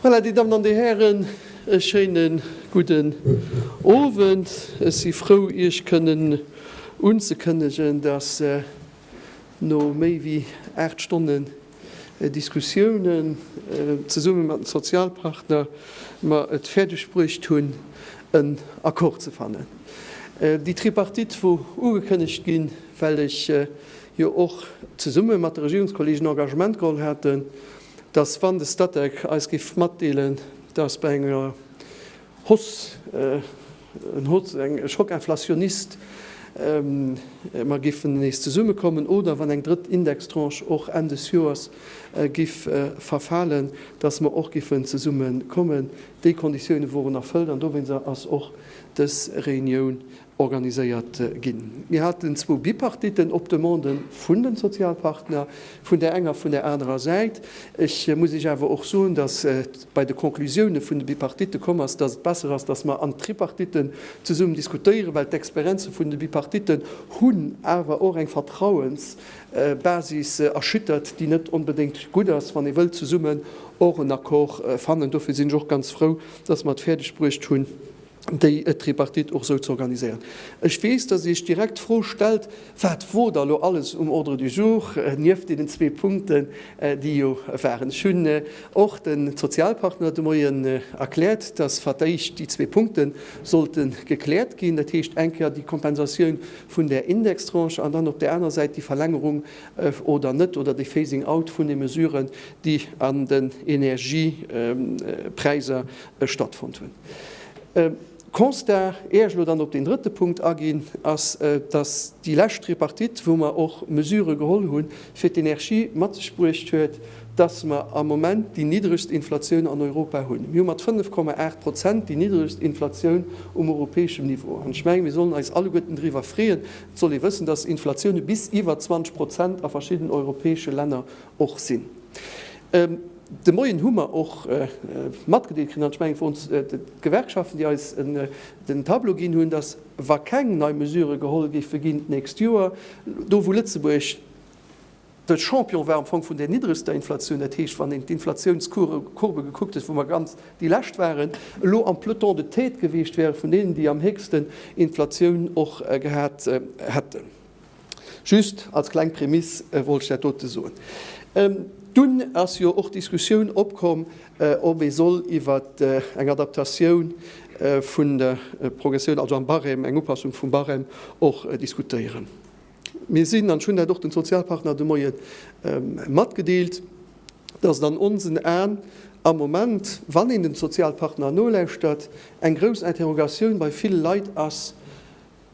Voilà, Dir Dammen an Dir Hären, e schéine gudden Owend. Ech si frou, Iech kënnen unzekënnegen, dass no méi wéi 8 Stonnen, Diskussiounen zesumme mat den Sozialpartner mer et fäerdeg bruecht hunn en Accord ze fannen. Déi Tripartite wor ugekënnegt ginn, well ech jo och zesumme mat de Regierungskollegen Engagement geholl haten, datt wann de Statec eis géif matdeelen, datt bei enger Hoss, en Hoss, eng Choc inflationniste, mer géifen nees zesummekommen, oder wann eng drëtt Indextranche och Enn des Joers géif verfalen, datt mer och géifen zesummekommen. Déi Konditiounen woren erfëllt an dowéinst ass och dës Reunioun organiséiert ginn. Mir haten zwou Bipartitten op Demande vun de Sozialpartner, vun där enger, vun där anerer Säit. Ech muss Iech awer och soen, datt bei de Conclusioune vun de Bipartitte komm ass, datt et besser ass, datt mer an d'Tripartitten zesummen diskutéieren, well d'Experienze vun de Bipartitten hunn awer och eng Vertrauensbasis erschüttert, déi net onbedéngt gutt ass, wann ee wëllt zesummen och en Accord fannen. Dofir sinn ech och ganz frou, datt mer et fäerdegbruecht hunn, déi Tripartite och esou ze organiséieren. Ech weess, datt Dir Iech direkt d'Fro stellt, Wat wor da lo alles um Ordre du jour, nieft deenen zwee Punkten, déi jo waren? Ech hunn och de Sozialpartner de Moien erkläert, datt fir d'éischt déi zwee Punkte sollte gekläert ginn, dat heescht eng Kéier déi Kompensatioun vun där Indextranche an dann op där aner Säit déi Verlängerung oder net oder de Phasing out vun de Mesuren, déi an den Energiepräiser Ech stattfonnt hunn. Constat, éier ech elo dann op deen drëtte Punkt aginn, ass, dass déi lescht Tripartite, wou mer och Mesurë geholl hu fir d'Energie, mat sech bruecht huet, dass mer am Moment déi niddregst Inflatioun an Europa hunn. Mir hu mat 5,8 Prozent déi niddregst Inflatioun um europäeschem Niveau. An ech menge mir sollen eis alleguerten driwwer freeën. Et soll ee wëssen, dass Inflatioune bis iwwer 20 Prozent a verschidden europäesche Länner och sinn. De Moien hu mer och matgedeelt kritt, an ech mengen et woren d'Gewerkschaften, déi eis den Tableau ginn hunn, datt wa keng nei Mesurë geholl géife ginn d'nächst Joer, do wou Lëtzebuerg de Champion war am Fong vun där niddregster Inflatioun, dat heescht wann een d'Inflatiounscourbe gekuckt huet, wou mer ganz déi lescht waren, elo am Peloton de tête gewiescht wäre vun deenen, déi am héchsten Inflatioun och gehat hätten. Just als kleng Prémisse wollt ech dat dote soen. Dunn ass jo och d'Diskussioun opkomm, ob ee soll iwwer eng Adaptatioun vun der Progressioun, also am Barème, eng Upassung vum Barème och diskutéieren. Mir sinn, an ech hunn dat och de Sozialpartner de Moie matgedeelt, dass et an onsen Aen am Moment, wann een de Sozialpartner nolauschtert, eng grouss Interrogatioun bei ville Leit ass,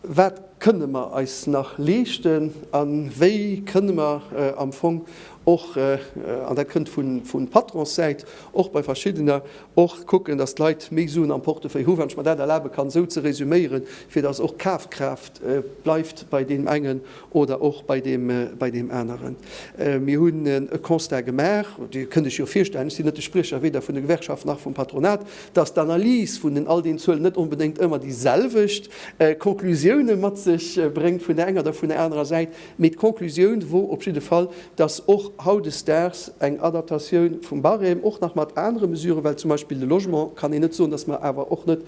Wat kënne mer eis nach leeschten a wéi kënne mer am Fong och, an dat kënnt vu Patronssäit, och bei verschiddener och kucken, datt d'Leit méi Suen am Portefeuille hu, wann ech mer dat erlabe kann esou ze resüméieren, fir datt och d'Kafkraaft bleift bei deem engen oder och bei deem aneren. Mir hunn e Constat gemaach, Dir kënnt lech jo virstellen, ech sinn net de Spriecher weder vun de Gewerkschaften nach vum Patronat, dass d'Analys vun all deenen Zuelen net onbedéngt ëmmer déi selwecht Conclusioune mat sech bréngt vun der enger oder vun der anerer Säit, mee d'Conclusioun wor op jidde Fall, dass och hautdesdaags eng Adaptatioun vum Barème, och nach mat anere Mesuren, well zum Beispill de Logement kann een net soen, dass mer awer och net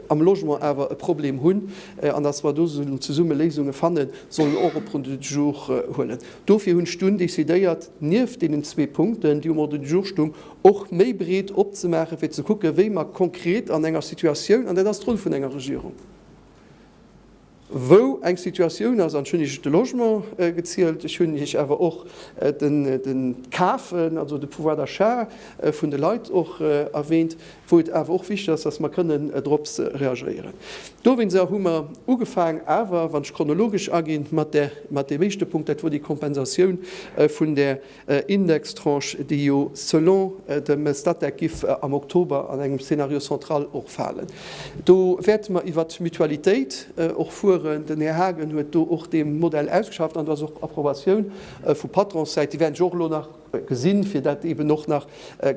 am Logement awer e Problem hunn an datt mer do sollen zesumme Léisunge fannen, sollen och op Ordre du jour huelen. Dofir hunn ech dunn decidéiert, nieft deenen zwee Punkten, déi um Ordre du jour stung, och méi breet opzemaachen, fir ze kucken, wéi mer konkret an enger Situatioun, an dat ass d'Roll vun enger Regierung, wou eng Situatioun ass, an ech hunn Iech de Logement gezielt, ech hunn Iech awer och de Kafen, also de Pouvoir d'achat vun de Leit och erwähnt, wou et awer och wichtig ass, dass mer kënnen drops reagéieren. Dowéinst hu mer ugefaang, awer wann ech chronologesch aginn, mat deem éischte Punkt, dat wor déi Kompensatioun vun där Indextranche, déi jo selon dem Statec giff am Oktober an engem Scénario central och falen. Do wäerte mer iwwert d'Mutualitéit och fueren. Den Här Haagen huet do och dee Modell ausgeschafft an do ass och Approbatioun vu Patronssäit. Déi wäerten ech och elo nach gesinn, fir dat eeben och nach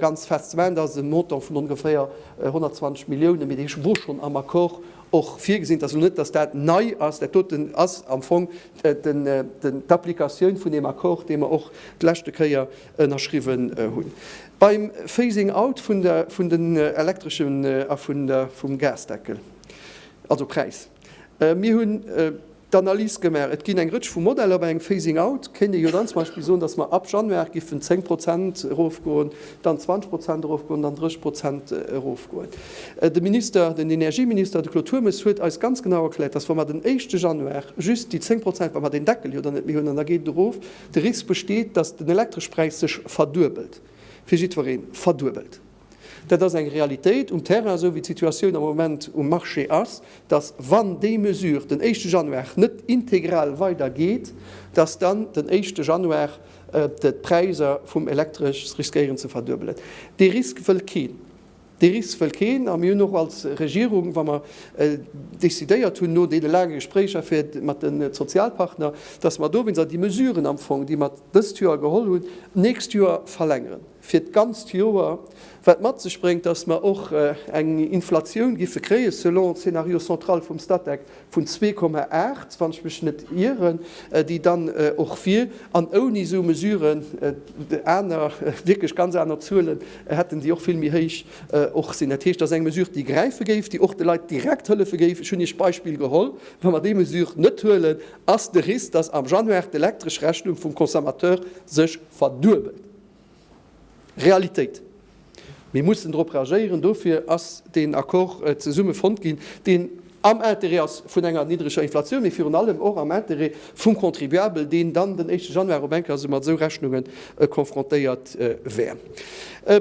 ganz fest ze maachen. Dat ass e Montant vun ongeféier 120 Milliounen, mee dee wor schonn am Accord och virgesinn. Et ass elo net, datt dat nei ass. Dat doten ass am Fong d'Applikatioun vun deem Accord, dee mer och d'leschte Kéier ënnerschriwwen hunn beim Phasing out vun den Elektreschen a vum Gasdeckel, also Präis. Mir hunn d'Analys gemaach, et ginn eng Rëtsch vu Modeller. Bei engem Phasing out kéint ee jo dann zum Beispill soen, datt mer ab Januar géifen 10 Prozent erofgoen, dann 20 Prozent erofgoen, dann 30 Prozent erofgoen. De Minister, den Energieminister, de Claude Turmes huet eis ganz genau erkläert, dass, wa mer den éischte Januar just déi 10 Prozent, wa mer deen Deckel jo dann net méi hunn, an da geet et erof, de Risk besteet, dass den Elektreschpräis sech verduebelt, fir jiddwereen, verduebelt. Dat ass eng Realitéit um Terrain, esou wéi d'Situatioun am Moment um Marché ass, dass, wann déi Mesure den éischte Januar net integral weidergeet, dass dann den éischte Januar D'Präisser vum Elektresch riskéieren ze verduebelen. Dee Risk wëll keen. Dee Risk wëll keen. A mir hunn och als Regierung, wa mer décidéiert hunn, no deene laange Gespréicher fir mat de Sozialpartner, dass mer dowéinst déi Mesuren am Fong, déi mer dëst Joer geholl hunn, d'nächst Joer verlängeren. fir d'ganzt Joer, wat mat sech bréngt, dass mer och eng Inflatioun géife kréien, selon de Scénario central vum Statec, vun 2,8, wann ech mech net ieren, déi dann och wier. An ouni esou Mesuren, aner, wierklech ganz aner Zuele hätten, déi och vill méi héich och sinn. Dat heescht, et ass eng Mesure, déi gräife géif, déi och de Leit direkt hëllefe géif. Ech hunn Iech d'Beispill geholl, Wa mer déi Mesure net huelen, ass de Risk, dass am Januar d'Elektreschrechnung vum Consommateur sech verduebelt. Realitéit. Mir mussen dorop reagéieren. Dofir ass deen Accord zesumme fonnt ginn, deen am Interêt ass vun enger niddreger Inflatioun, mee virun allem och am Interêt vum Contribuabel, deen dann den éischte Januar op eng Kéier esou mat esou Rechnunge konfrontéiert wär.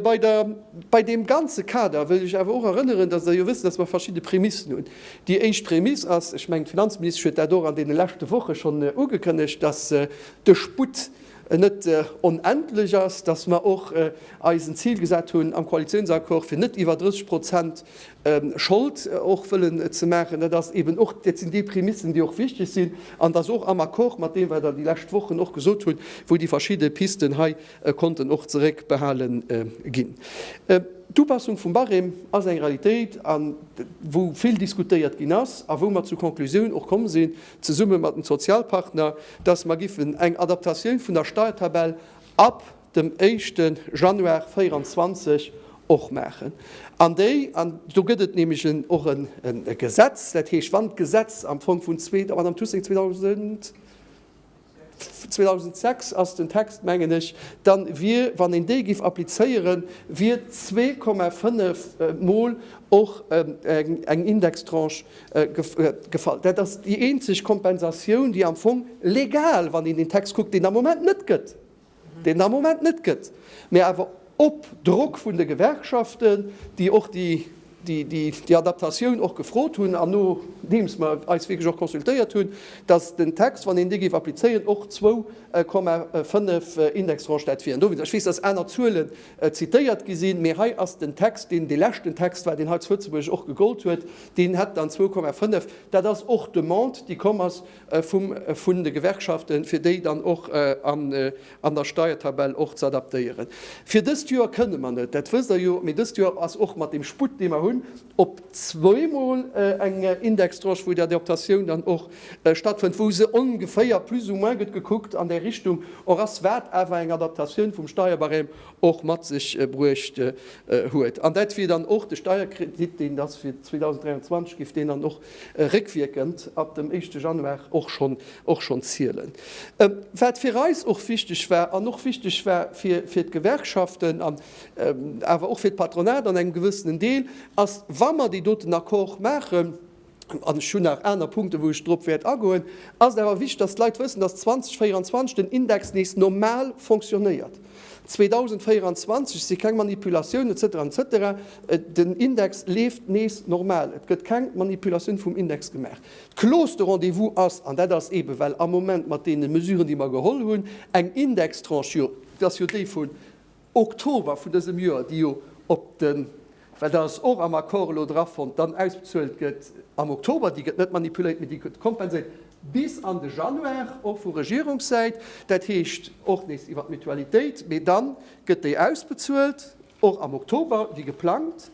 Bei der, bei deem ganze Kader wëll ech awer och erënneren, dass Der jo wësst, dass mer verschidde Prämissen hunn. Déi éischt Prämiss ass, ech mengen d'Finanzministesch huet dat och an deene leschte Woche schonn ugekënnegt, dass de Sputt net onendlech ass, dass mer och eis en Zil gesat hunn am Koalitionsaccord, fir net iwwer 30 Prozent Schold och wëllen ze maachen. Dat ass eeben och, dat sinn déi Prämissen, déi och wichtig sinn, an dass och am Accord mat deem, wat Der déi lescht Wochen och gesot hutt, wou déi verschidde Pisten hei konnten och zeréckbehale ginn. D'Upassung vum Barème ass eng Realitéit, wou vill diskutéiert ginn ass a wou mer zur Konklusioun och komm sinn, zesumme mat den Sozialpartner, dass mer giffen eng Adaptatioun vun der Steuertabell ab dem éischte Januar 2024 och maachen. An déi, an do gëtt et nämlech en och en Gesetz, dat heescht, wann d'Gesetz am Fong vun zwee, Madame Thussing, 2000, 2006 ass den Text, mengen ech, dann wier, wann een déi giff applizéieren, wier zwee Komma fënnef mol och eng Indextranche gefall. Dat ass déi eenzeg Kompensatioun, déi am Fong legal, wann een den Text kuckt, deen am Moment net gëtt. deen am Moment net gëtt, mä awer op Drock vun de Gewerkschaften, déi och déi Adaptatioun och gefrot hunn an nodeems mer eis wierklech och consultéiert hunn, datt den Text, wann een dee géif applizéieren, och zwou Komma fënnef Indextranche dat wieren. Dowéinst, ech weess, datt aner Zuelen zitéiert gi sinn, mä hei ass den Text, deen dee leschten Text war, deen hei zu Lëtzebuerg och gegollt huet, deen hätt dann zwou Komma fënnef. Dat ass och d'Demande, déi komm ass vum vun de Gewerkschaften, fir déi dann och an an der Steiertabell och z'adaptéieren. Fir dëst Joer kënne mer net, dat wësst Der jo, mee dëst Joer ass och mat deem Sputt, dee mer hunn, op zweiemol eng Indextranche, wou d'Adaptatioun dann och stattfënnt, wou se ongeféier plus ou moins, gëtt gekuckt, an där Richtung och ass, wat awer eng Adaptatioun vum Steierbarème och mat sech bruecht huet. An dat wier dann och de Steierkredit, deen da fir 2023 géif deen dann och réckwierkend ab dem éischte Januar och schonn och schonn zielen. Wat fir eis och wichteg war an och wichteg war fir fir d'Gewerkschaften an awer och fir d'Patronat an engem gewëssenen Deel, ass, wa mer déi doten Accorde maachen, an ech hunn nach aner Punkten, wou ech drop wäert agoen, ass et awer wichteg, dass d'Leit wëssen, dass 2024 den Index nees normal fonctionnéiert. 2024 si keng Manipulatiounen, etc, etc. Den Index leeft nees normal. Et gëtt keng Manipulatioun vum Index gemaach. D'Clause de rendez-vous ass, an dat ass eebe well am Moment mat deene Mesuren, déi mer geholl hunn, eng Indextranche, jo, dat ass jo déi vun Oktober vun dësem Joer, déi jo op de Wat ass och am Accord elo drafonnt, dann ausbezuelt gëtt am Oktober, déi gëtt net manipuléiert, mee déi gëtt kompenséiert bis an de Januar, och vu Regierungssäit, dat heescht och nees iwwer d'Mutualitéit, mee da gëtt déi ausbezuelt och am Oktober wéi geplangt.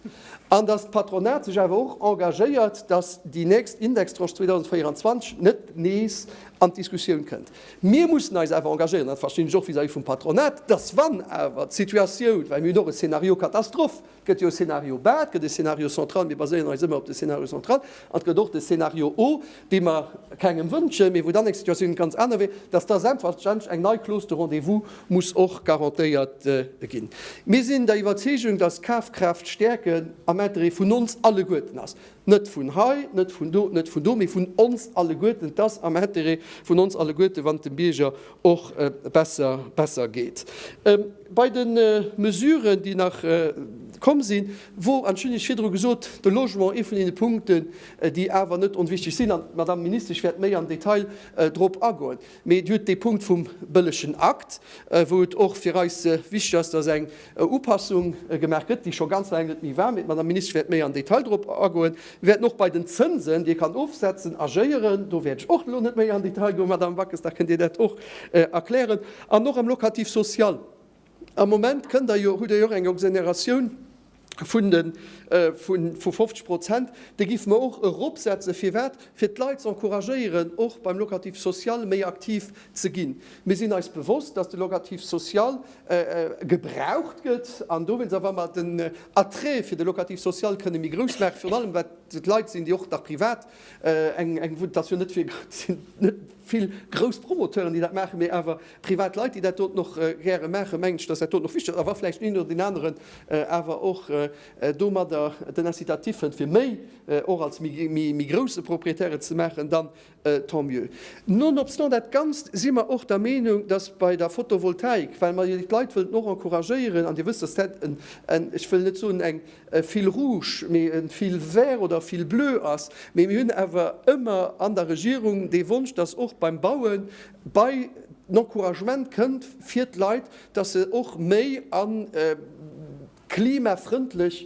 An datt d'Patronat sech awer och engagéiert, datt déi nächst Indextranche 2024 net nees an d'Diskussioun kënnt. Mir mussen eis awer engagéieren, dat verstinn ech och vis-à-vis vum Patronat, dass wann awer d'Situatioun, well mir hunn och e Scénario Katastroph, et gëtt jo e Scénario bas, et gëtt e Scénario central, mir baséieren eis ëmmer op de Scénario central, an et gëtt och de Scénario haut, dee mer kengem wënschen, mee wou dann eng Situatioun ganz aner wier, dass da selbstverständlech eng nei Clause de rendez-vous muss och garantéiert ginn. Mir sinn der Iwwerzeegung, dass Kafkraaft stäerken am Interêt vun ons alleguerten ass. Net vun hei, net vun do, net vun do, mee vun ons alleguerten. Et ass am Intérêt vun ons alleguerte wann et dem Bierger och besser geet. Bei de Mesuren, déi nach komm sinn, wor, an ech hunn Iech virdru gesot, de Logement ee vun deene Punkten, déi awer net onwichtig sinn, an d'Madame Ministesch wäert méi am Detail drop agoen. Mee et huet dee Punkt vum bëllegen Akt, wou et och fir eis wichteg ass, dass eng Upassung gemaach gëtt, déi scho ganz laang net méi war. Mee d'Madame Minister wäert méi am Detail dorop agoen. Mir wäerten och bei den Zënsen, déi ee kann ofsetzen, agéieren. Do wäert ech och elo net méi am Detail goen. Madame Backes, da kënnt Dir dat och erklären. An och am Locatif social, Am Moment kënnt Der jo, hutt Der jo och eng Exonératioun vun 50 Prozent. Déi géife mer och eropsetzen. Firwat? Fir d'Leit ze encouragéieren, och beim Locatif social méi aktiv ze ginn. Mir sinn eis bewosst, dass de Locatif social gebraucht gëtt. An dowéinst, a wa mer den Attrait fir de Locatif social kënne méi grouss maachen, virun allem wat d'Leit sinn, déi och nach privat eng, et ass jo net vill grouss Promoteuren, déi dat maachen, mee awer, Privat Leit, déi dat doten och gäre maachen, mengen ech, dass dat doten och wichteg ass. A wa vläicht den een oder deen aneren awer och domadder den Incitatif fënnt, fir méi och als méi grousse Propriétaire et ze maachen, dann tant mieux. Nonobstant dat Ganzt si mer och der Meenung, dass bei der Photovoltaik, well mer jo déi Leit wëllten och encouragéieren, an Dir wësst, dass dat en, ech wëll net soen eng fil rouge, mee en fil vert oder fil bleu ass, mee mir hunn awer ëmmer an der Regierung dee Wonsch, dass och beim Bauen, Bei den Encouragement kënnt fir d'Leit, dass se och méi a klimafrëndlech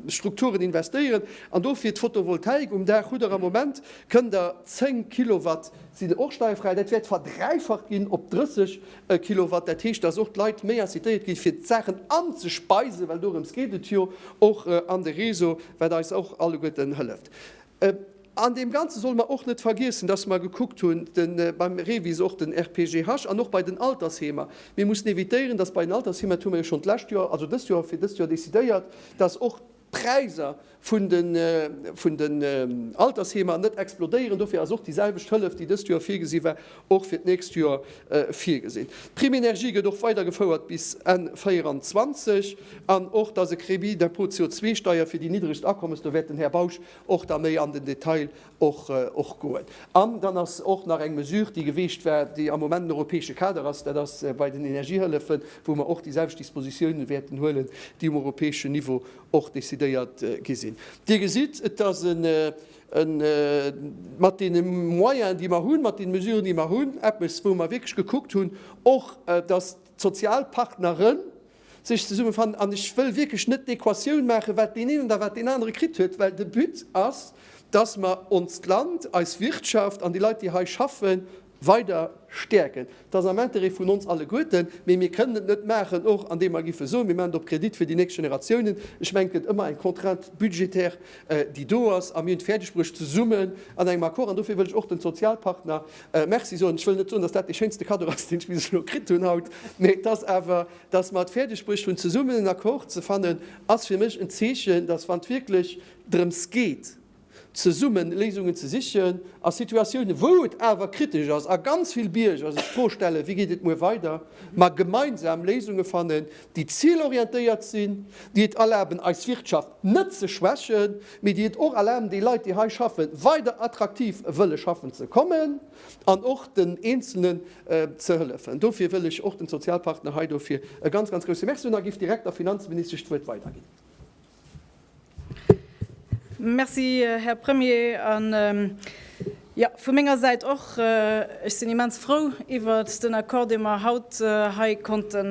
Strukturen investéieren an dofir d'Photovoltaik um Daach. Hutt der am Moment, kënnt der 10 Kilowatt sinn och steierfräi. Dat wäert verdräifacht ginn op 30 Kilowatt. Dat heescht, dass och d'Leit méi incitéiert ginn, fir d'Saachen anzespeisen, well dorëms geet et jo och, an de Réseau, wat eis och alleguerten hëlleft. An deem Ganze solle mer och net vergiessen, dass mer gekuckt hunn, beim REVIS och den RPGH an och bei den Altersheemer, mir mussen évitéieren, dass bei den Altersheemer, dat hu mer jo schonn d'lescht Joer, also dëst Joer, fir dëst Joer décidéiert, dass och d'Präisser vun den Altersheemer net explodéieren. Dofir ass och déi selwecht Hëllef, déi dëst Joer virgesi war, och fir d'nächst Joer virgesinn. D'Prime énergie gëtt och weidergefouert bis Enn 2024. An och, dass e Crédit d'impôt CO2-Steier fir déi niddregst Akommes, do wäert den Här Bausch och da méi an den Detail och goen. An dann ass och nach eng Mesure, déi geweegt war, déi am Moment den europäesche Kader ass, dat ass bei den Energiehëllefen, wou mer och déiselwecht Dispositiounen wäerten huelen, déi um europäeschen Niveau och decidéiert gi sinn. Dir gesitt, et ass e mat deene Moyenen, déi mer hunn, mat deene Mesuren, déi mer hunn, eppes, wou mer wierklech gekuckt hunn och, dass d'Sozialpartneren, sech zesummefannen an ech wëll wierklech net d'Equatioun maachen, wat deen een oder wat deen anere kritt huet, well de But ass, dass mer onst Land, eis Wirtschaft an déi Leit, déi hei schaffen, weider stäerken. Et ass am Intérêt vun ons alleguerten, mee mir kënnen et net maachen, och andeem mer giffe soen, mir maachen et op Kredit fir déi nächst Generatiounen. Ech mengen, et gëtt ëmmer eng Contrainte budgétaire, déi do ass, a mir hunn et fäerdegbruecht, zesummen an engem Accord, an dofir wëll ech och de Sozialpartner Merci soen. Ech wëll net soen, dass dat dee schéinste Kaddo ass, deen ech bis elo kritt hunn haut, mee et ass awer, dass mer et fäerdegbruecht hunn zesummen en Accord ze fannen, ass fir mech en Zeechen, dass wann et wierklech drëms geet zesumme Léisungen ze sichen a Situatiounen, wou et awer kritesch ass a ganz vill Bierger sech d'Fro stellen, wéi geet et muer weider, mer gemeinsam Léisunge fannen, déi zilorientéiert sinn, déi et erlaben eis Wirtschaft net ze schwächen, mee déi et och erlaben déi Leit déi hei schaffen weider attraktiv wëlle schaffen ze kommen an och den Eenzelnen ze hëllefen. Dofir wëll ech och den Sozialpartner hei dofir e ganz, ganz grousse Merci soen a giff direkt der Finanzministesch d'Wuert weiderginn. Merci, Här Premier. Jo, vu menger Säit och. Ech sinn immens frou iwwert den Accord, dee mer haut hei konnte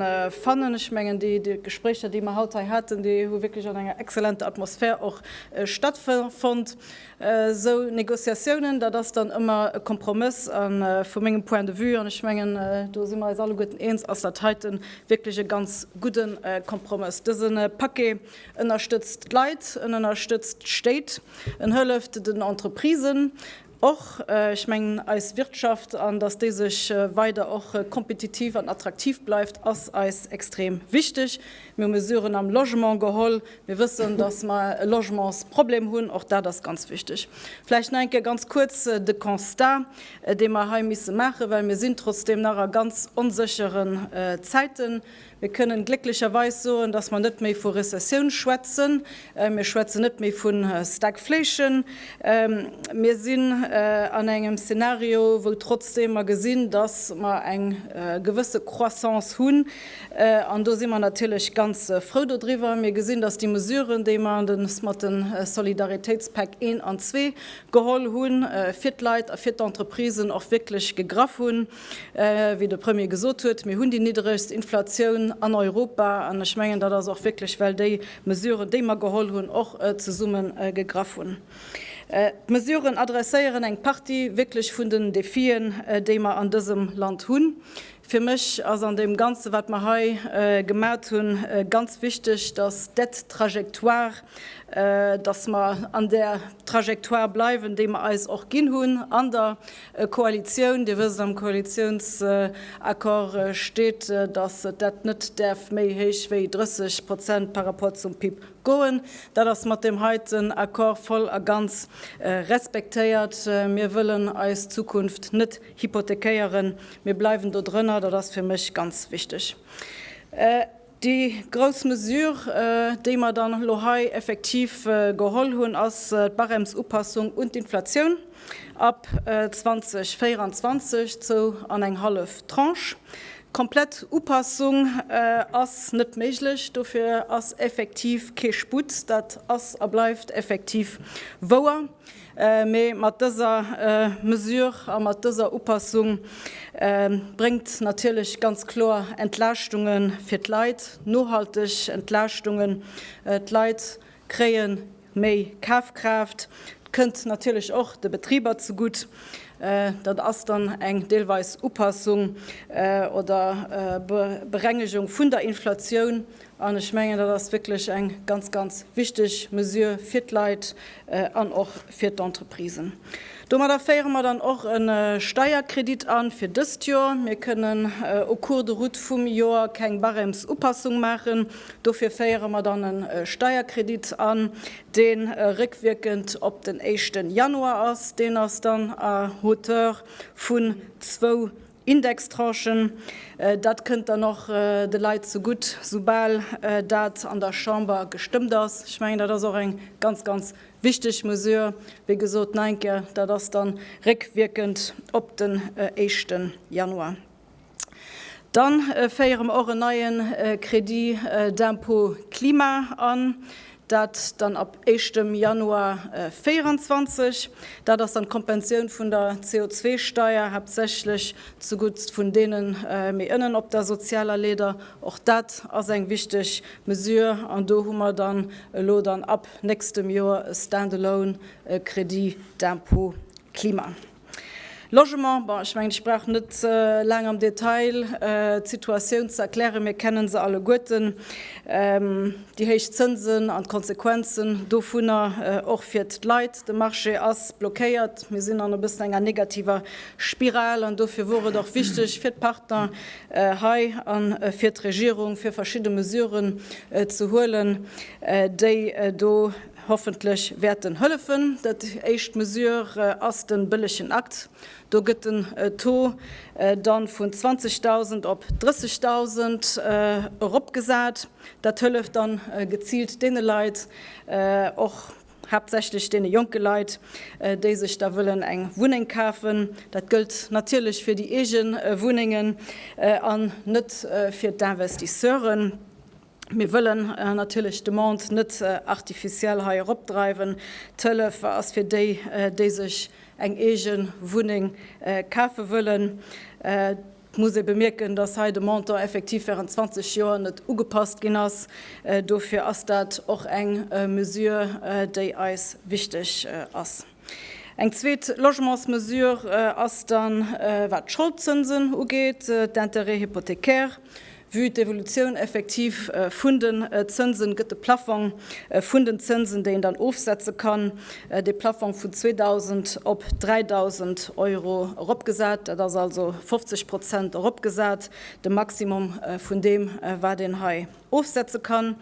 fannen. Ech mengen, déi Gespréicher, déi mer haut hei haten, déi hu wierklech an enger exzellenter Atmosphär och stattfonnt. Esou Négociatiounen, dat ass dann ëmmer e Kompromëss. A vu mengem Point de vue, an ech mengen, do si mer eis alleguerten eens, ass dat heiten wierklech e ganz gudde Kompromëss. Dëse Paquet En ënnerstëtzt d'Leit, en ënnerstëtzt d'Stéit, en hëlleft den Entreprisen och, ech mengen eis Wirtschaft, an datt déi sech weider och kompetitiv an attraktiv bleift, ass eis extrem wichteg. Mir hu Mesuren am Logement geholl. Mir wëssen, datt mer e Logementsproblem hunn, och dat ass ganz wichteg. Vläicht nach eng Kéier ganz kuerz de Constat, dee mer hei misse maachen, well mir sinn trotzdeem nach a ganz onséchere Zäiten. Mir kënnen glécklecherweis soen, dass mer net méi vu Rezessioun schwätzen. Mir schwätzen net méi vu Stagflation. Mir sinn an engem Szenario, wou trotzdeem mer gesinn, dass mer eng gewësse Croissance hunn, an do si mer natierlech ganz frou dodriwwer. Mir gesinn, dass déi Mesuren, déi mer mat de Solidaritéitspäck I an II geholl hunn, fir d'Leit a fir d'Entreprisen och wierklech gegraff hunn. Wéi de Premier gesot huet, mir hunn déi niddregst Inflatioun an Europa. An ech mengen, dat ass och wierklech, well déi Mesuren, déi mer geholl hunn, och zesumme gegraff hunn. D'Mesuren adresséieren eng Partie wierklech vun den Defien, déi mer an dësem Land hunn. Fir mech ass an deem Ganze wat mer hei gemat hunn, ganz wichteg, dass d'Aide trajectoire, dass mer an där Trajectoire bleiwen, déi mer eis och ginn hunn an der E Koalitioun, Dir wësst, am Koalitiounsaccord steet, datt dat net däerf méi héich wéi 30 Prozent par rapport zum PIB goen. Dat ass mat deem heiten Accord voll a ganz respektéiert. Mir wëllen eis Zukunft net hypothekéieren. Mir bleiwen do drënner, dat ass fir mech ganz wichteg. Déi grouss Mesure, déi mer dann elo hei effektiv geholl hunn, ass d'Barèmesupassung un d'Inflatioun ab 2024, zou an eng hallef Tranche. Komplett Upassung ass net méiglech, dofir ass effektiv kee Sputt. Dat ass a bleift effektiv wouer. Mee mat dëser Mesure a mat dëser Upassung bréngt natierlech ganz kloer Entlaaschtunge fir d'Leit, nohalteg Entlaaschtungen. D'Leit kréie méi Kafkraaft. Et kënnt natierlech och de Betriber zegutt. Dat ass dann eng deelweis Upassung oder Berengegung vun der Inflatioun. An ech mengen, dat ass wierklech eng ganz, ganz wichteg Mesure fir d'Leit an och fir d'Entreprisen. Domadder féiere mer dann och e Steierkredit an fir dëst Joer. Mir kënnen au cours de route vum Joer keng Barèmesupassung maachen. Dofir féiere mer dann e Steierkredit an, dee réckwierkend op den éischte Januar ass. Deen ass dann à hauteur vun zwou Indextranchen, dat kënnt dann och de Leit zegutt, soubal dat an der Chamber gestëmmt ass. Ech mengen, dat ass och eng ganz, ganz wichteg Mesure. Wéi gesot, nein ke, dat ass da réckwierkend op den éischte Januar. Dann féiere mer och en neie Crédit d'impôt climat an. Dat dann ab éischtem Januar 2024. Dat ass dann d'Kompensioun vun der CO2-Steier, haaptsächlech zugutt vun deene méi ënnen op der sozialer Leeder. Och dat ass eng wichteg Mesure. An do hu mer dann elo dann ab nächstem Joer e stand-alone Crédit d'impôt climat. Logement, bon, ech mengen, ech brauch net laang am Detail d'Situatioun ze erklären, mir kennen se alleguerten, déi héich Zënsen an d'Konsequenzen dovunner och fir d'Leit. De Marché ass blockéiert, mir sinn an e bëssen enger negativer Spiral an dofir wor et och wichteg fir d'Partner hei a fir d'Regierung, fir verschidde Mesuren ze huelen, déi do, Hoffentlech wäert en hëllefen. Dat éischt Mesure ass den bëllegen Akt. Do gëtt den Taux dann vun 20.000 op 30.000 eropgesat. Dat hëlleft dann geziilt deene Leit, och haaptsächlech deene jonke Leit, déi sech da wëllen eng Wunneng kafen. Dat gëllt natierlech fir déi eege Wunnengen an net fir d'Investisseuren. Mir wëllen natierlech d'Demande net artificiel hei eropdreiwen. D'Hëllef ass fir déi, déi sech eng eege Wunneng kafe wëllen. Et muss ee bemierken, dass hei de Montant effektiv während 20 Joer net ugepasst ginn ass. Dofir ass dat och eng Mesure, déi eis wichteg ass. Eng zweet Logementsmesure ass dann, wat d'Scholdzënsen ugeet, d'Intérêts hypothécaires. Vue d'Evolutioun effektiv vun den Zënsen gëtt de Plaffong vun den Zënsen, déi een dann ofsetze kann, dee Plaffong vun 2.000 op 3.000 Euro eropgesat. Dat ass also 50 Prozent eropgesat, de Maximum vun deem, wat een hei ofsetze kann.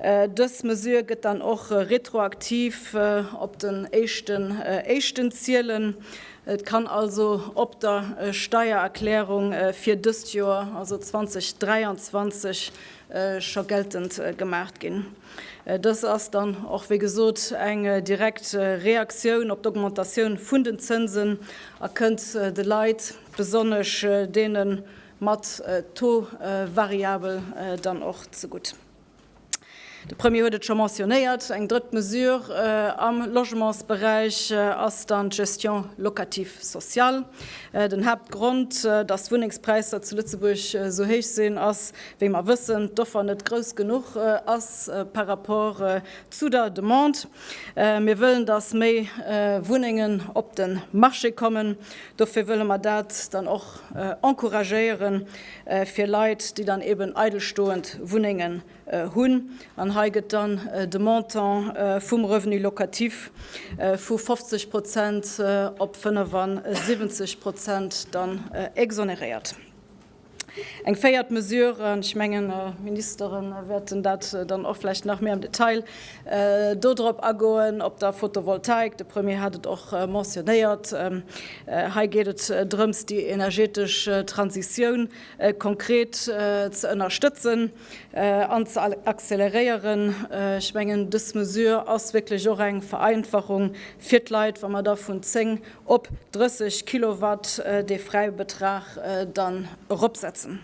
Dës Mesure gëtt dann och retroaktiv op den éischten Éischten zielen. Et kann also op der Steiererklärung fir dëst Joer, also 2023, scho geltend gemaach ginn. Dës ass dann och, wéi gesot, eng direkt Reaktioun op d'Augmentatioun vun den Zënsen a kënnt de Leit, besonnesch deenen, mat Taux variabel dann och zegutt. De Premier huet et scho mentionnéiert, eng drëtt Mesure am Logementsberäich ass dann d'Gestion locative sociale. Den Haaptgrond, datt d'Wunnengspräisser zu Lëtzebuerg esou héich sinn, ass, wéi mer wëssen, d'Offer net grouss genuch ass par rapport zu der Demande. Mir wëllen, datt méi Wunnengen op de Marché kommen. Dofir wëlle mer dat dann och encouragéieren fir Leit, déi dann eben eidelstoend Wunnengen hunn. An hei gëtt dann de Montant vum Revenu locatif vu 50 Prozent op 75 Prozent dann exonéréiert. Eng véiert Mesure, an ech mengen, d'Ministere wäerten dat dann och vläicht nach méi am Detail do drop agoen, op der Fotovoltaik, de Premier hat et och mentionnéiert, hei geet et drëms, déi energetesch Transitioun konkret ze ënnerstëtzen. an ze acceleréieren. Ech mengen, dës Mesure ass wierklech och eng Vereinfachung fir d'Leit, wa mer da vun 10 op 30 Kilowatt dee Fräibetrag dann eropsetzen.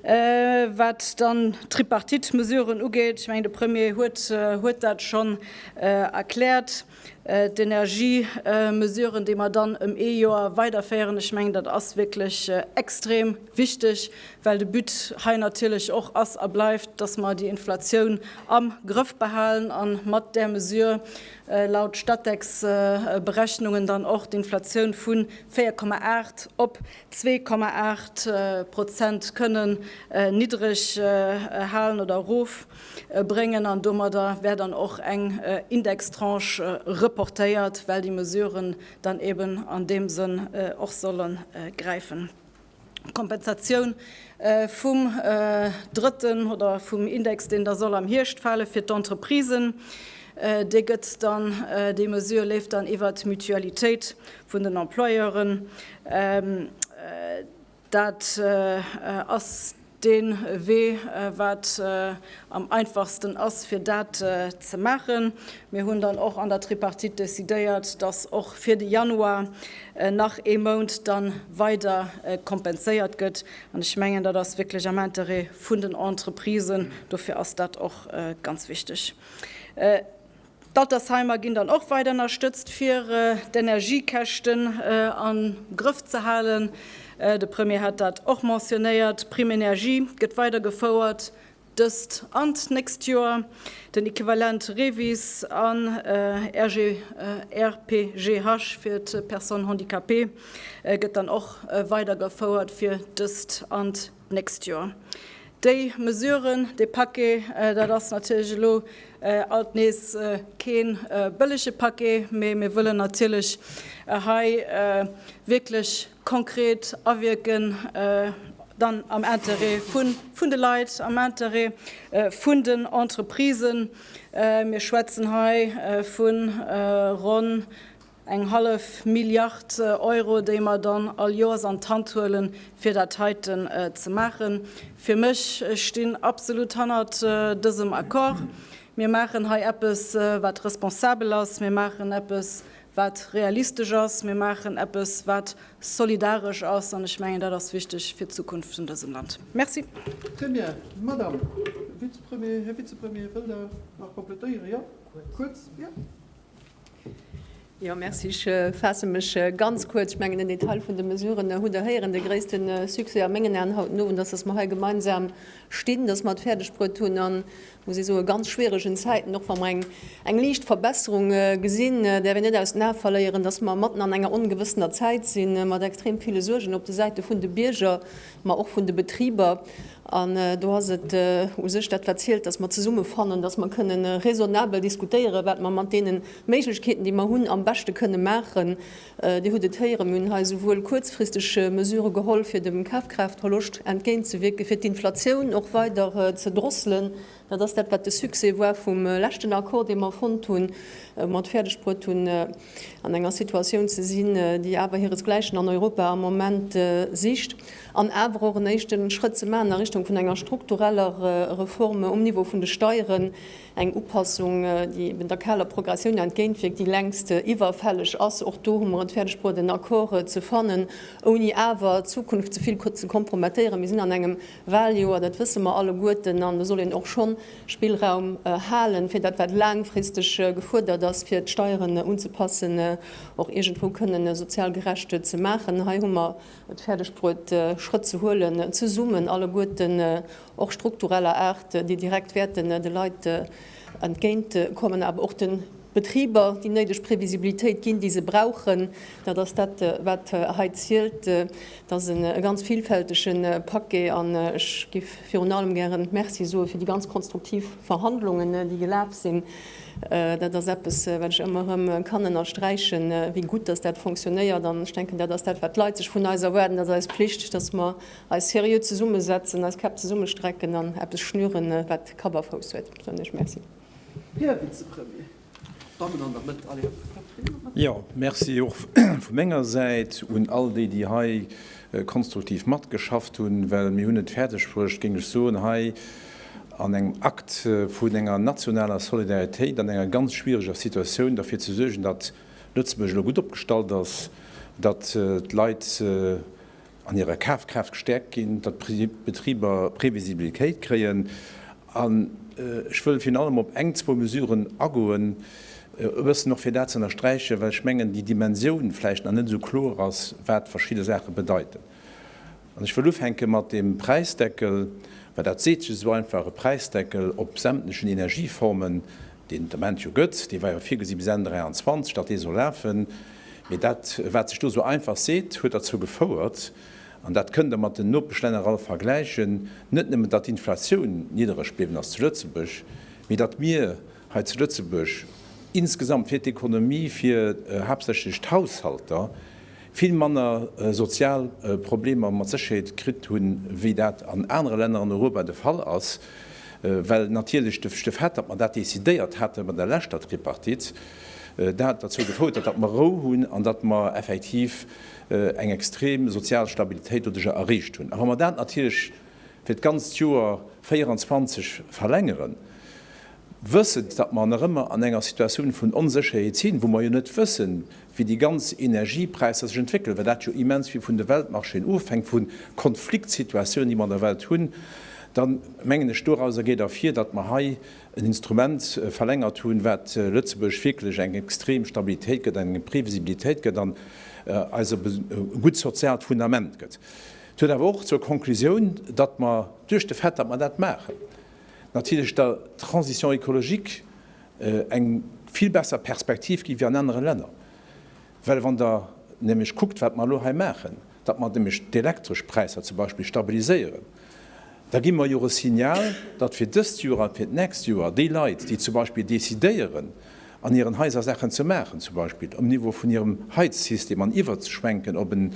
Wat dann d'Tripartite-Mesuren ugeet, ech mengen, de Premier huet dat schonn erkläert, D'Energiemesuren, déi mer dann ëm ee Joer weiderféieren, ech mengen, dat ass wierklech extrem wichteg, well de But hei natierlech och ass a bleift, dass mer déi Inflatioun am Grëff behalen a mat där Mesure laut Statec-Berechnungen dann och d'Inflatioun vu 4,8 op 2,8 Prozent kënnen niddreg halen oder erof. bréngen an domadder wär dann och eng Indextranche reportéiert, well déi Mesuren dann eben an deem Sënn och solle gräifen. D'Kompensatioun vum drëtten oder vum Index, deen da soll am Hierscht fale fir d'Entreprisen, dee gëtt dann, déi Mesure leeft dann iwwert d'Mutualitéit vun den Employeuren. Dat ass dee Wee, wat am einfachsten ass, fir dat ze maachen. Mir hunn dann och an der Tripartite decidéiert, dass och fir de Januar nach ee Mount da weider kompenséiert gëtt. An ech mengen, dat ass wierklech am Interêt vun den Entreprisen. Dofir ass dat och ganz wichteg. D'Altersheimer ginn dann och weider ënnerstëtzt, fir d'Energiekäschten am Grëff ze halen. De Premier hat dat och mentionéiert. D'Prime énergie gëtt weider gefouert, dëst an d'nächst Joer. Den Equivalent REVIS an RPGH fir d'Personnes handicapées gëtt dann och weider gefouert, fir dëst an d'nächst Joer. Déi Mesuren, dee Paquet, dat ass natierlech elo alt nees kee bëllege Paquet, mee mir wëllen natierlech hei wierklech konkret awierken, dann am Interêt vun de Leit, am Interêt vun den Entreprisen. Mir schwätzen hei vu ronn Eng hallef Milliard Euro, déi mer dann all Joers an d'Hand huelen, fir dat heiten ze maachen. Fir mech, ech stinn absolut hannert dësem Accord. Mir maachen hei eppes, wat responsabel ass. Mir maachen eppes, wat realistesch ass. Mir maachen eppes, wat solidaresch ass. An ech mengen, dat ass wichteg fir d'Zukunft vun dësem Land. Merci. Très bien. Madame Vize-Premier, Här Vize-Premier, wëllt Der nach komplettéieren? Jo? Kuerz. Kuerz? Jo. Jo, merci. Ech faasse mech ganz kuerz. Ech mengen, den Detail vun de Mesuren hutt Der héieren. De gréisste Succès a mengen Aen haut den Owend ass, datt mer hei gemeinsam stinn, datt mer et fäerdegbruet hunn an, muss ee soen, ganz schwieregen Zäiten, och wa mer eng, eng liicht Verbesserung gesinn, däerf een net aus den Ae verléieren, datt mer matten an enger ongewëssener Zäit sinn, mat extrem ville Suergen op de Säite vun de Bierger, mä och vun de Betriber, an do ass et u sech dat wat zielt, datt mer zesumme fannen, datt mer kënne raisonnabel diskutéieren, wat mer mat deene Méiglechkeeten, déi mer hunn, am beschte kënne maachen. Dir hutt et héieren, mir hunn hei esouwuel kuerzfristeg Mesurë geholl, fir dem Kafkraaftverloscht entgéint ze wierken, fir d'Inflatioun och weider ze drosselen, Dat ass dat, wat de Succès war vum leschten Accord, dee mer fonnt hunn, wou mer et fäerdegbruet hunn, an enger Situatioun ze sinn, déi awer hiresgläichen an Europa am Moment sicht, an awer och en éischte Schrëtt ze maachen a Richtung vun enger struktureller Reform um Niveau vun de Steieren, eng Upassung, déi eben der kaler Progressioun entgéintwierkt, déi längst iwwerfälleg ass. Och do hu mer et fäerdegbruet, en Accord ze fannen, ouni awer d'Zukunft ze vill ze kompromettéieren. Mir sinn an engem Wahljoer, dat wësse mer alleguerten, an do soll een och schonn Spillraum halen, fir dat wat laangfristeg gefuerdert ass, fir d'Steieren unzepassen, och iergendwou kënnen sozial gerecht ze maachen. Hei hu mer et fäerdeg bruet Schrëtt ze huelen, zesummen alleguerten, och struktureller Aart, déi direkt wäerten de Leit entgéint kommen, awer och de. Betriber déi néideg Previsibilitéit ginn, déi se brauchen. Dat ass dat, wat hei zielt. Et ass e ganz vilfältege Paquet an ech géif virun allem gären Merci soe fir déi ganz konstruktiv Verhandlungen, déi gelaf sinn. Dat ass eppes, wat ech ëmmer erëm kann ënnersträichen, wéi gutt dass dat funktionéiert. An ech denken, dat ass dat, wat d'Leit sech vun eis erwaarden. Et ass eis Pflicht, dass mer eis seriö zesummesetzen, eis Käpp zesummestrecken an eppes schnüren, wat Kapp a Fouss huet. Esou hunn ech Merci. Jo, Merci och vu menger Säit un all déi, déi hei konstruktiv matgeschafft hunn, well mir hunn et fäerdegbruecht, géing ech soen, hei an engem Akt vun enger nationaler Solidaritéit an enger ganz schwiereger Situatioun derfir ze suergen, datt Lëtzebuerg elo gutt opgestallt ass, datt d'Leit, an hirer Kafkraaft gestäerkt ginn, datt d'Betriber Previsibilitéit kréien an ech wëll virun allem op eng, zwou Mesuren agoen, e bëssen och fir dat ze ënnersträichen, well ech mengen, déi Dimensioun vläicht nach net esou kloer ass, wat verschidde Saache bedeiten. An ech wëll ufänke mat deem Präisdeckel, well dat seet sech esou einfach, e Präisdeckel op sämtlechen Energieformen, deen et am Moment jo gëtt, dee war jo virgesi bis Enn 2023, datt dee soll lafen. Mee dat, wat sech do esou einfach seet, huet derzou gefouert, an dat kënnt Der mat den Nopeschlänner all vergläichen, net nëmmen, datt d'Inflatioun niddereg bliwwen ass zu Lëtzebuerg, mee datt mir hei zu Lëtzebuerg insgesamt fir d'Ekonomie, fir haaptsächlech d'Haushalter, vill manner sozial Problemer mat Sécherheet kritt hunn, wéi dat an anere Länner an Europa de Fall ass. Well natierlech de Fait, datt mer dat decidéiert haten bei der leschter Tripartite, dat derzou gefouert huet, datt mer Rou hunn an datt mer effektiv eng extrem sozial Stabilitéit doduerjer erreecht hunn. A wa mer dat natierlech fir d'ganzt Joer 24 verlängeren, wëssend, datt mer nach ëmmer an enger Situatioun vun Onsécherheet sinn, wou mer jo net wëssen, wéi déi ganz Energiepräisser sech entwéckelen, well dat jo immens vill vun de Weltmarchéen ofhänkt, vu Konfliktsituatiounen, déi mer an der Welt hunn, da mengen ech, doraus geet ervir, datt mer hei en Instrument verlängert hunn, wat Lëtzebuerg wierklech eng extrem Stabilitéit gëtt, eng Previsibilitéit gëtt an eis e gutt soziaalt Fundament gëtt. Et huet awer och zur Conclusioun, datt mer duerch de Fait, datt mer dat maachen, natierlech der Transition écologique eng vill besser Perspektiv ginn ewéi an anere Länner. Well wann Der nämlech kuckt, wat mer elo hei maachen, datt mer nämlech d'elektresch Präisser zum Beispill stabiliséieren, da gi mer jo e Signal, datt fir dëst Joer a fir d'nächst Joer déi Leit, déi zum Beispill decidéieren, an hiren Haiser Saachen ze maachen, zum Beispill um Niveau vun hirem Heizsystem an iwwerzeschwenken op e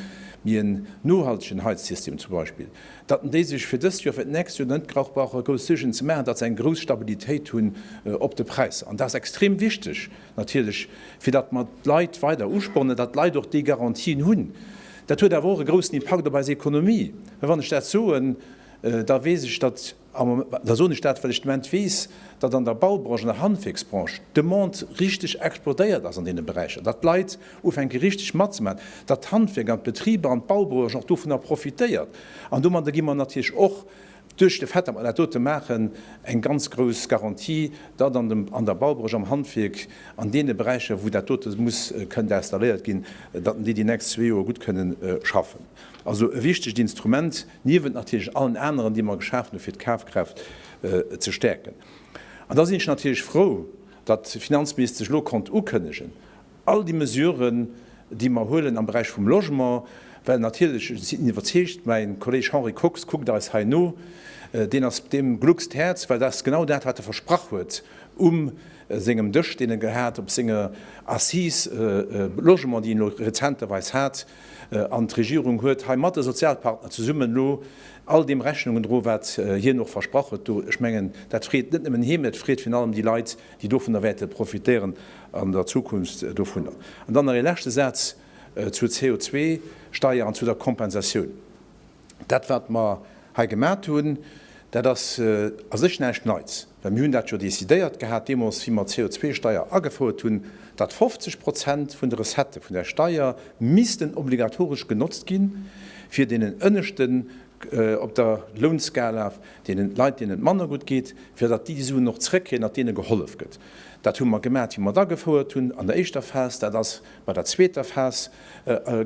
méi en nohaltegen Heizsystem zum Beispill, datt en déi sech fir dëst Joer a fir d'nächst Joer net grauch brauche grouss Suergen ze maachen, datt se eng grouss Stabilitéit hunn op de Präisser. An dat ass extrem wichteg. Natierlech, fir datt mer d'Leit weider uspornen, datt d'Leit och déi Garantien hunn. Dat huet awer och e groussen Impakt op eis Ekonomie. Mä wann ech dat soen, da weess ech, datt, da soen ech dat, well ech de Moment weess, datt an der Baubranche, an der Handwierksbranche d'Demande richteg explodéiert ass an deene Beräicher, datt d'Leit ufänke richteg matzemaachen, datt d'Handwierk an d'Betriber an d'Baubranche och dovunner profitéiert. An domadder gi mer natierlech och Duerch de Fait, datt mer dat dote maachen, eng ganz grouss Garantie, datt an dem, an der Baubranche, am Handwierk, an deene Beräicher, wou dat dote muss, kënnt installéiert ginn, datt mer déi déi nächst zwee Joer gutt kënnen schaffen. Also e wichtegt Instrument, niewent natierlech allen aneren, déi mer geschafen hu fir d'Kafkraaft ze stäerken. An da sinn ech natierlech frou, datt d'Finanzministesch elo konnt ukënnegen, All déi Mesuren, déi mer huelen am Beräich vum Logement, well natierlech, ech sinn iwwerzeegt, mäin Kolleg Henri Kox kuckt eis hei no, deen ass, deem gluckst d'Häerz, well dat ass genau dat, wat e versprach huet um sengem Dësch, deen e gehat op senger Assise Logement, déi en elo rezenterweis hat. An d'Regierung huet hei mat de Sozialpartner zesummen elo all deem Rechnung gedroen, wat hien och versprach huet do. Ech mengen, dat freet net nëmmen hie, mä et freet virun allem déi Leit, déi dovunner wäerte profitéieren an der Zukunft dovunner. An dann nach ee leschte Saz zur CO2-Steier an zu der Kompensatioun. Dat, wat mer hei gemat hunn, dat ass a sech näischt Neits, well mir hunn dat jo décidéiert gehat deemools, wéi mer d'CO2-Steier agefouert hunn, datt 50 Prozent vun de Recettë vun där Steier missten obligatoresch genotzt gi fir deenen ënneschte op der Lounskala deenen Leit deenen et manner gutt geet, fir datt déi déi Suen och zréckkréien, datt deene gehollef gëtt. Dat hu mer gemat, wéi mer et agefouert hunn an der éischter Phas, dat ass bei der zweeter Phas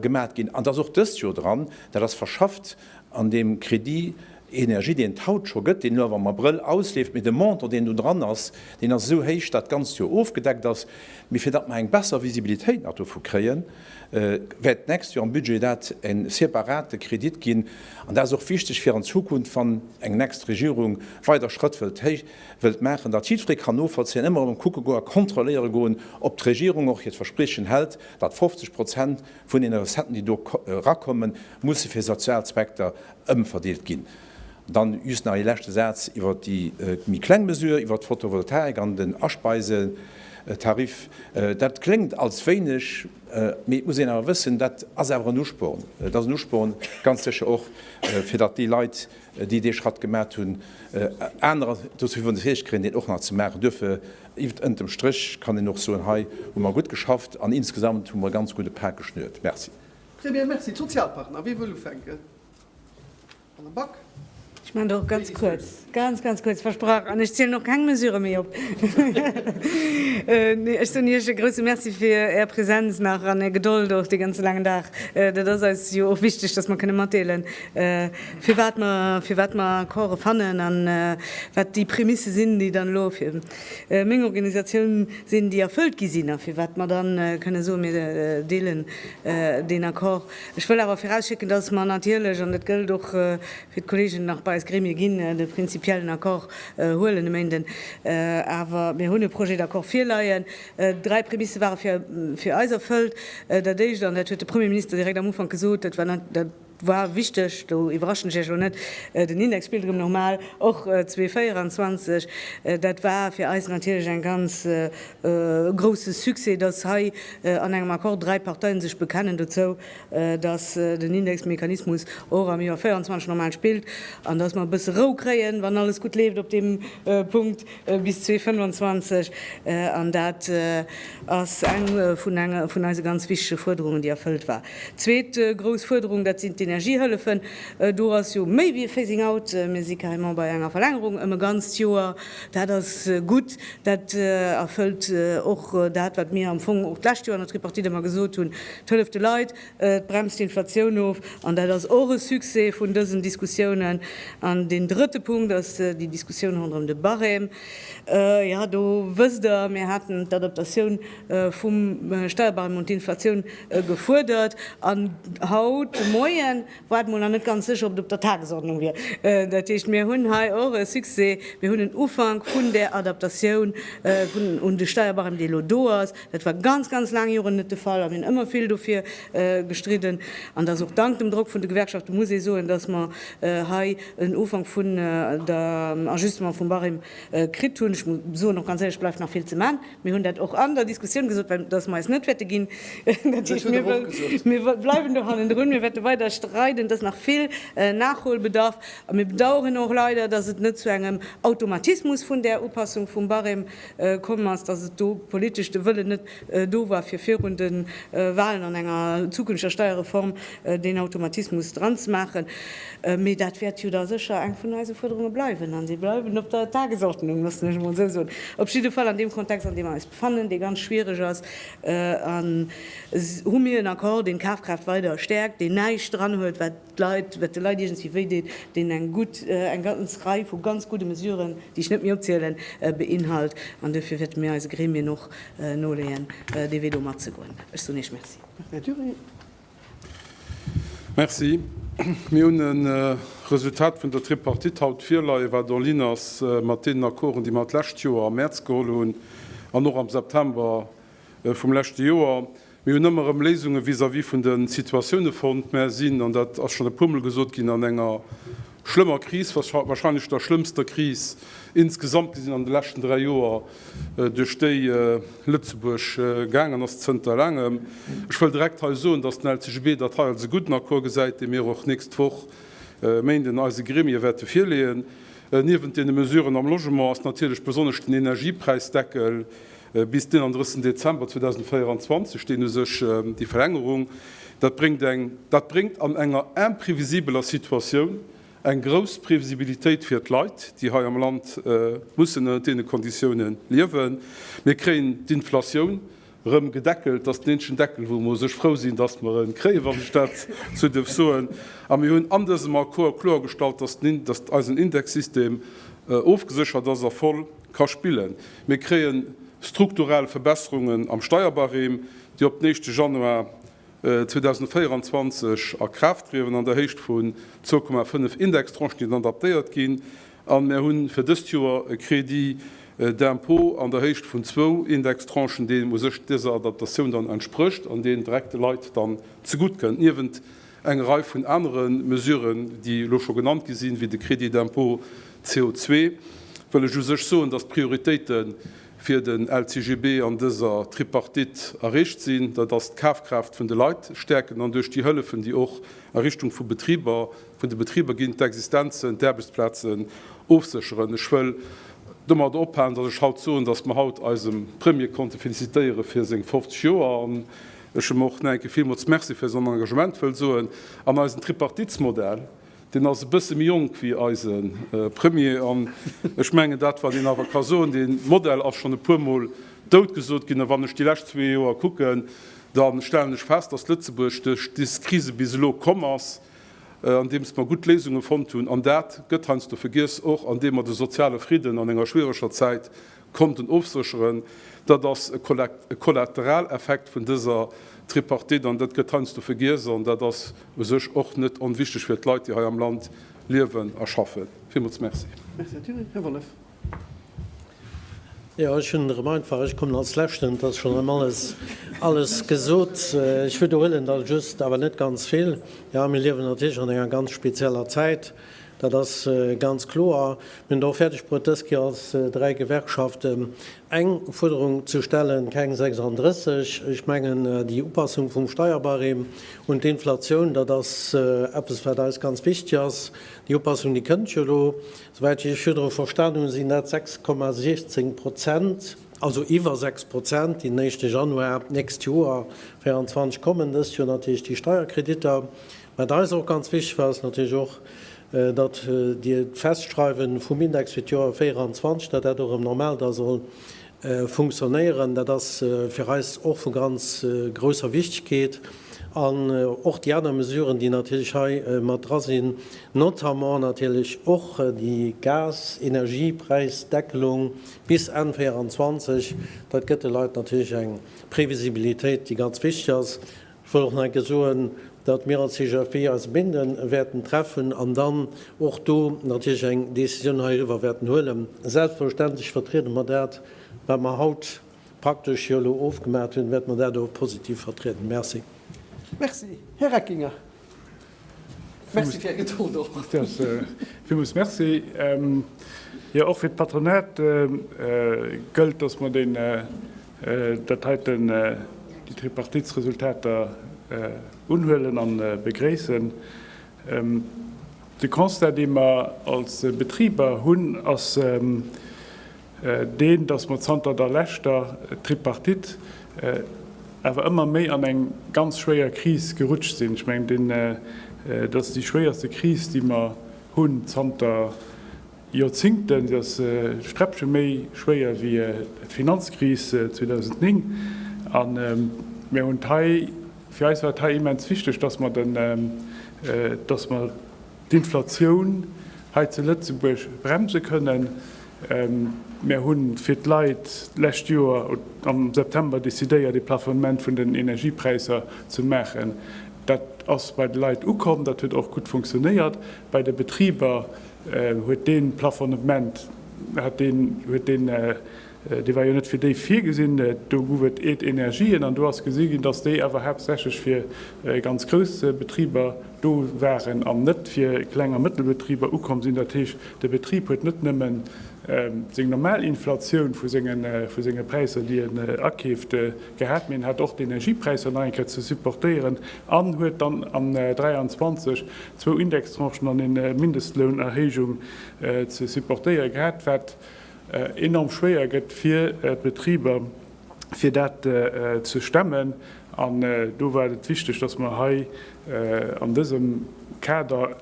gemat ginn an dat ass och dëst Joer dran. Dat ass verschafft an deem Crédit énergie, deen et haut scho gëtt, deen elo awer am Abrëll ausleeft, mee de Montant deen do dran ass, deen ass esou héich, datt d'ganzt Joer ofgedeckt ass. Mee fir datt mer eng besser Visibilitéit nach dovu kréien, wäert d'nächst Joer am Budget dat en separate Kredit ginn. An dat ass och wichteg fir an Zukunft, wann eng next Regierung weider Schrëtt wëllt héi wëllt maachen, datt jiddweree kann novollzéien, ëmmer erëm kucke goen a kontrolléiere goen, ob d'Regierung och hiert Verspriechen hält, datt 50 Prozent vun deene Recetten, déi do erakommen, musse fir sozial Zweckter ëmverdeelt ginn. Dann just nach ee leschte Saz iwwert déi méi kleng Mesure, iwwert d'Fotovoltaik an den Aspeisetariff. Dat kléngt alles wéineg, mee et muss een awer wëssen, dat ass awer en Usporn. Et ass en Usporn, ganz sécher och, fir datt déi Leit, déi dee Schratt gemat hunn, anerer dozou iwwerzeegt kréien, deen och nach ze maachen. Duerfir, ënn dem Stréch kann een och soen, hei hu mer gutt geschafft an insgesamt hu mer e ganz gudde Pak geschnürt. Merci. Très bien, merci. D'Sozialpartner, wie wëll ufänken? Ech maachen der och ganz kuerz, ganz, ganz kuerz, versprach. An ech zielen och keng Mesure méi op. Nee, ech soen Iech e grouse Merci fir Är Präsenz nach an Är Gedold och dee ganze laangen Dag. Dat ass eis jo och wichteg, dass mer kënne matdeelen, firwat mer, firwat mer Accorde fannen a wat déi Prémisse sinn, déi dann elo fir meng Organisatioun sinn, déi erfëllt gi sinn a firwat mer dann kënne soen, mir deelen deen Accord. Ech wëll awer virausschécken, dass mer natierlech, an dat gëllt och fir d'Kollegen, nach bei eis Gremie ginn, de prinzipiellen Accord huelen e Méinden. Awer mir hunn e Projet d'accord virleien. Dräi Prämisse ware fir eis erfëllt. Dat Éischt, an dat huet de Premierminister direkt am Ufank gesot, dat war, dat war wichteg, do iwwerraschen ech Iech elo net, den Index spillt erëm normal, och 2024, dat war fir eis natierlech e ganz grouse Succès, dass hei an engem Accord dräi Parteien sech bekennen dozou, dass den Indexmechanismus och am Joer 24 normal spillt an dass mer e bësse Rou kréien, wann alles gutt leeft op deem Punkt, bis 2025. An dat ass eng vun eise ganz wichtige Fuerderungen, déi erfëllt war. Zweet grouss Fuerderung, dat sinn d'Energiehëllefen. Do ass jo méi wéi e Phasing out. Mir si carrément bei enger Verlängerung ëm e ganzt Joer. Dat ass gutt, Dat erfëllt och dat, wat mir am Fong och d'lescht Joer an der Tripartite ëmmer gesot hunn, Et hëlleft de Leit, et bremst d'Inflatioun of. An dat ass och e Succès vun dësen Diskussiounen. An deen drëtte Punkt ass déi Diskussioun ronderëm de Barème. Jo, do wësst Der, mir haten d'Adaptatioun vum Steierbarème un d'Inflatioun gefuerdert. An haut de Moien War mol nach net ganz sécher, ob et op der Tagesordnung wier. Dat heescht, mir hunn hei och e Succès, Mir hunn en Ufank vun där Adaptatioun un de Steierbarème, dee elo do ass. Dat war ganz, ganz laang Joren net de Fall a mir hunn ëmmer vill dofir gestridden. An dass och dank dem Drock vun de Gewerkschafte muss ee soen, dass mer hei en Ufank vun der Ajustement vum Barème kritt hunn. Ech muss soen, och ganz éierlech, et bleift nach vill ze man. Mir hunn dat och an der Diskussioun gesot, well dass mer eis net wäerte ginn. Dat heescht, mir bleiwen do hannendrun. Mir wäerte weider streiden. Et ass nach vill Nachholbedarf. A mir bedauern och leider, dass et net zu engem Automatismus vun där Upassung vum Barème komm ass, dass et do politesch de Wëllen net do war, fir virun de Wahlen an enger zukünfteger Steierreform deen Automatismus dranzemaachen. Mee dat wäert jo da sécher eng vun eise Fuerderunge bleiwen, an si bleiwen op der Tagesordnung, loossen ech emol esou soen. Op jidde Fall an deem Kontext, an deem mer eis befannen, dee ganz schwierig ass, hu mir en Accord, deen d'Kafkraaft weider stäerkt, deen näischt dran huet, wat d'Leit, wat de Leit iergendwéi wéideet, deen eng gutt, eng ganz Rei vu ganz gudde Mesuren, déi ech net méi opzielen, beinhalt. An duerfir wäerte mir eise Gremien och noleeën, dee Wee do matzegoen. Ech soen Iech Merci. Merci. Mir hunn e Resultat vun der Tripartite haut virleie wat en ligne ass mat deenen Accorden, déi mer d'lescht Joer am Mäerz geholl hunn an och am September vum leschte Joer. Mir hunn ëmmer erëm Léisunge vis-à-vis vun de Situatioune fonnt, mä sinn, an dat ass schonn e puermol gesot ginn, an enger Schlëmmer Kris, wahrscheinlech der schlëmmster Kris insgesamt gesinn an de leschten 3 Joer, duerch déi Lëtzebuerg gaangen ass zënter laangem. Ech wëll direkt hei soen, dass den LCGB dat hei als e gudden Accord gesäit, dee mir och nächst Woch, Méinden, eise Gremie wäerte virleeën. Niewent deene Mesuren am Logement ass natierlech besonnesch den Energiepräisdeckel Bis den 31 Dezember 2024 steen u sech déi Verlängerung. Dat bréngt eng dat bréngt an enger imprevisibeler Situatioun eng grouss Previsibilitéit fir d'Leit, déi hei am Land mussen ënnert deene Konditioune liewen. Mir kréien d'Inflatioun erëm gedeckelt. Dat ass den eenzegen Deckel, wou mer u sech frou sinn, dass mer e kréien, wann ech dat esou dierf soen. A mir hunn an dësem Accord kloergestallt, dass den dass eisen Indexsystem ofgeséchert ass a voll Ka spillen. Mir kréien strukturell Verbesserungen am Steierbarème, déi op den éischte Januar 2024 a Kraaft trieden, an der Héicht vun 2,5 Indextranchen, déi dann adaptéiert ginn. A mir hu fir dëst Joer e Crédit d'impôt an der Héicht vun zwou Indextranchen, deen u sech dëser Adaptatioun dann entsprécht an deen direkt de Leit dann zegutt kënnt. Niewent. Eng Rei vun anere Mesuren, déi elo scho genannt gi sinn, wéi de Crédit d'impôt CO2, wëll ech u sech soen, dass d'Prioritéite fir den LCGB an dëser Tripartite erreecht sinn. Dat ass d'Kafkraaft vun de Leit stäerken an duerch déi Hëllefen, déi och a Richtung vu Betriber, vun de Betriber ginn, d'Existenzen, d'Aarbechtsplazen ofsécheren. Ech wëll domat ophalen, dass ech haut soen, dass mer haut eisem Premier konnte felicitéiere fir seng 50 Joer. Ech hu mer och no enke villmools Merci fir Son Engagement wëll soen an eisen Tripartitsmodell. Deen ass e bësse méi jonk wéi eise Premier an ech mengen dat, wat een awer ka soen, dee Modell ass schonn e puermol doutgesot ginn. A wann ech déi lescht zwee Joer kucken, da stellen ech fest, datt Lëtzebuerg duerch dës Krise bis elo komm ass, andeems mer gutt Léisunge fonnt hunn. An dat gëtt heiansdo vergiess, och andeem mer de soziale Fridden an enger schwiereger Zäit konnten ofsécheren, dat ass e Kollateraleffekt vun dëser Tripartite an dat gëtt heiansdo vergiess an dat ass u sech och net onwichtig fir d'Leit, déi hei am Land liewen a schaffen. Villmools merci. Merci, Här Thillen. Här Wollef. Jo, ech hunn erëm einfach, ech kommen als Leschten, et ass schonn erëm alles, alles gesot. Ech wiederhuelen da just, awer net ganz vill. Jo, mir liewen natierlech an enger ganz spezieller Zäit. Dat ass ganz kloer. Mir hunn et och fäerdeg bruet, dës Kéier als dräi Gewerkschaften eng Fuerderung ze stellen, keng 36. Ech mengen, déi Upassung vum Steierbarème un d'Inflatioun, dat ass eppes, wat eis ganz wichtig ass. Déi Upassung, déi kënnt jo elo, souwäit wéi ech virdru verstanen hunn, sinn dat 6,16 Prozent, also iwwer 6 Prozent, déi den éischte Januar d'nächst Joer 24 kommen. Dëst Joer natierlech déi Steierkreditter. Wat eis och ganz wichteg war, ass natierlech och, datt Dir d'Festschreiwe vum Index fir d'Joer 24, datt dat och erëm normal da soll funktionéieren, dat ass fir eis och vu ganz grousser Wichtegkeet. An och déi aner Mesuren, déi natierlech hei mat dra sinn, notamment natierlech och déi Gas-Energiepräisdeckelung bis Enn 24, dat gëtt de Leit natierlech eng Previsibilitéit, déi ganz wichteg ass. Ech wëll och nach eng Kéier soen, datt mir als CGFP eis Binden wäerten treffen an dann och do natierlech eng Décisioun heiriwwer wäerten huelen. Selbstverständlech vertriede mer dat, wat mer haut praktesch jo elo ofgemaach hunn, wäerte mer dat och positiv vertrieden. Merci. Merci. Här Reckinger. Merci fir Är Gedold och. Villmools Merci. Jo, och fir d'Patronat gëllt, dass mer deen, dat heiten, déi Tripartitsresultater unhuelen a begréissen. De Constat, dee mer als Betriber hunn, ass, deen, datt mer zanter der leschter Tripartite awer ëmmer méi an eng ganz schwéier Kris gerutscht sinn. Ech mengen, dat ass déi schwéierste Kris, déi mer hunn zanter Joerzingten. Se ass e Sträppche méi schwéier wéi d'Finanzkris 2009. An mir hunn hei, fir eis war et hei immens wichteg, datt mer, datt mer, d'Inflatioun hei zu Lëtzebuerg bremse kënnen. Mär hu fir d'Leit d'lescht Joer am September decidéiert, ee Plafonnement vun den Energiepräisser ze maachen. Dat ass bei de Leit ukomm, dat huet och gutt funktionéiert. Bei de Betriber huet dee Plafonnement huet dee. Dee war jo net fir déi virgesinn. Do gouf et eet Energien an do ass gesi ginn, dass déi awer haaptsächlech fir ganz grouss Betriber do waren an net fir Kleng a Mëttelbetriber ukomm sinn. Dat heescht, de Betrib huet net nëmme seng normal Inflatioun vu senge Präisser, déi en akeeft, gehat, mee en hat och d'Energiepräisser nach eng Kéier ze supportéieren an huet dann an 23 zwou Indextranchen an e Mindestlounerhéijung ze supportéiere gehat, wat, enorm schwéier gëtt fir d'Betriber, fir dat ze stemmen. An do war et wichteg, dass mer hei an dësem Kader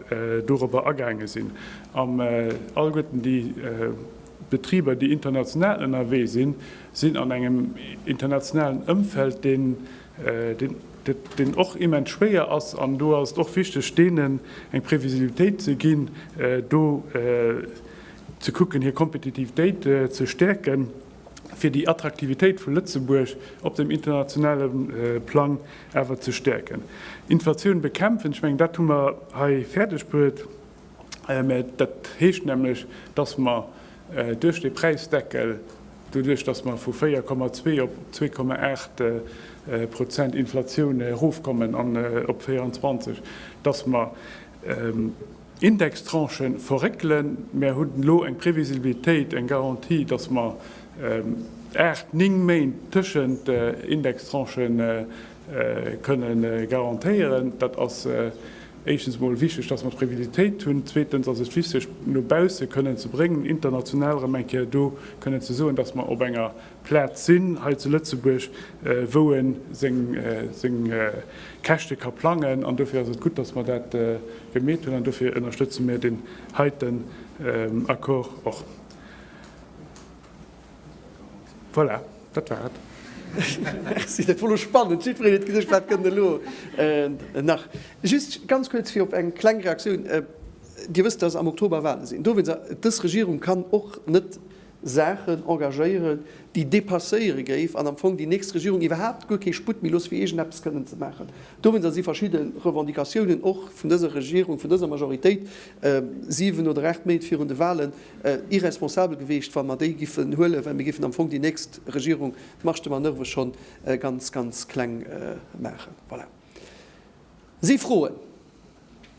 dorobber agaange sinn, an alleguerten déi Betriber, déi international ënnerwee sinn, sinn an engem internationalen Ëmfeld, deen och immens schwéier ass. An do ass et och wichteg, deenen eng Previsibilitéit ze ginn, do ze kucken hir Kompetitivitéit ze stäerken, fir déi Attraktivitéit vu Lëtzebuerg op dem internationale Plang awer ze stäerken. Inflatioun bekämpfen, ech mengen dat hu mer hei fäerdeg bruet, mä dat heescht nämlech, datt mer duerch dee Präisdeckel, doduerch datt mer vu 4,2 op 2,8 Prozent Inflatioun erofkommen an op 24, datt mer, Indextranchen verréckelen. Mär hunn elo eng Previsibilitéit, eng Garantie, dass mer aacht, néng Méint tëschent Indextranche kënne garantéieren. Dat ass éischtens emol wichteg, dass mer d'Previsibilitéit hunn. Zweetens ass et wichteg, no bausse kënnen ze bréngen, international erëm eng Kéier do kënnen ze soen, dass mer op enger Plaz sinn hei zu Lëtzebuerg, wou e seng Käschte ka plangen. An dofir ass et gutt, dass mer dat gemeet hunn. An dofir ënnerstëtze mir deen heiten Accord och. Voilà, dat war et. Merci. Dat wor elo spannend. Jiddwereen huet geduecht, Wat kënnt elo nach? Just ganz kuerz, fir op eng kleng Reaktioun. Dir wësst, dass am Oktober Wale sinn. Dowéinst, Dës Regierung kann och net Saachen engagéieren, déi dépasséiere géif an am Fong déi nächst Regierung iwwerhaapt guer kee Sputt méi looss fir iergend eppes kënnen ze maachen. Dowéinst ass si verschidde Revendicatiounen och vun dëser Regierung, vun dëser Majoritéit, 7 oder 8 Méint virun de Wahlen, irresponsabel geweecht, wa mer déi giffen huelen, well mir giffen am Fong déi nächst Regierung d'Marge de manoeuvre schonn ganz, ganz kleng maachen. Voilà. Si froen.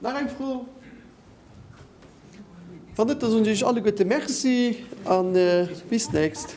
Nach eng Fro? Wann net, da soen ech iech alleguerte Merci a bis d'nächst.